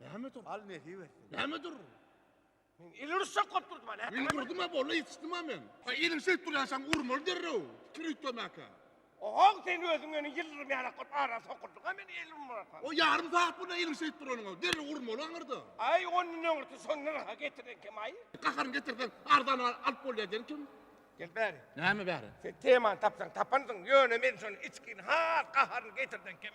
Näme dur? Al nesip etsin. Näme dur? Men il uruşa kop durdum ana. Men durdum ha bolla yetişdim ha men. Ha ilim şeýt durýan şaň urmaly derrew. Pikir üýtgemaka. Ohoň sen özüň meni ýyldyrym ýalak bolup ara sokurdyň ha meni il urmaka. O ýarym saat bula ilim şeýt duranyňa derrew urmaly aňyrda. Aý ondan öňürti şony nyrha getirdiň kim aý? Gaharyny getirseň arzan alyp bolýar diýen kim? Gel bäri. Näme bäri? Sen temany tapsaň tapansyň ýöne men şony içgin has gaharyny getirdiň kim?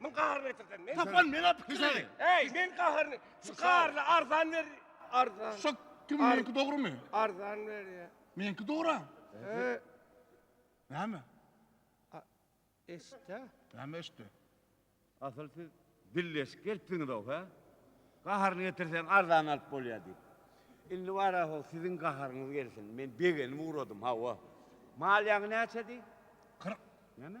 Min gaharyny getirsen. Men tapan men atyp gideli. Ey, men gaharyny. Şu gaharyny arzan ber. Arzan. Şu kim menki dogrumy? Arzan ber ya. Menki dogru. He. Näme? Eşde. Näme eşde? Asyl siz dilleşip gelipsiňiz o, he? Gaharyny getirsen arzan alyp bolýa diýip. Indi bara ho, siziň gaharyňyz gelsin. Men begenip ugradym, hawa. Malýaňy näçe diý? 40. Näme?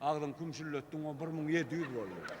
Agzyňy kümşülletdiň o bir müň ýedi ýüz boldy.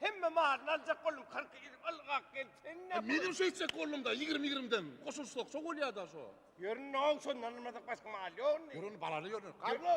Hemme maryny aljak boldum kyrk ýyl ylgap gelip sen näme. Menem şeýtjek boldumda ýigrimi ýigrimidan goşulsak şo bolýada şo. Ýörün now şondan almasak başga mal ýok indi. Ýörün balaly ýörün. Garlo.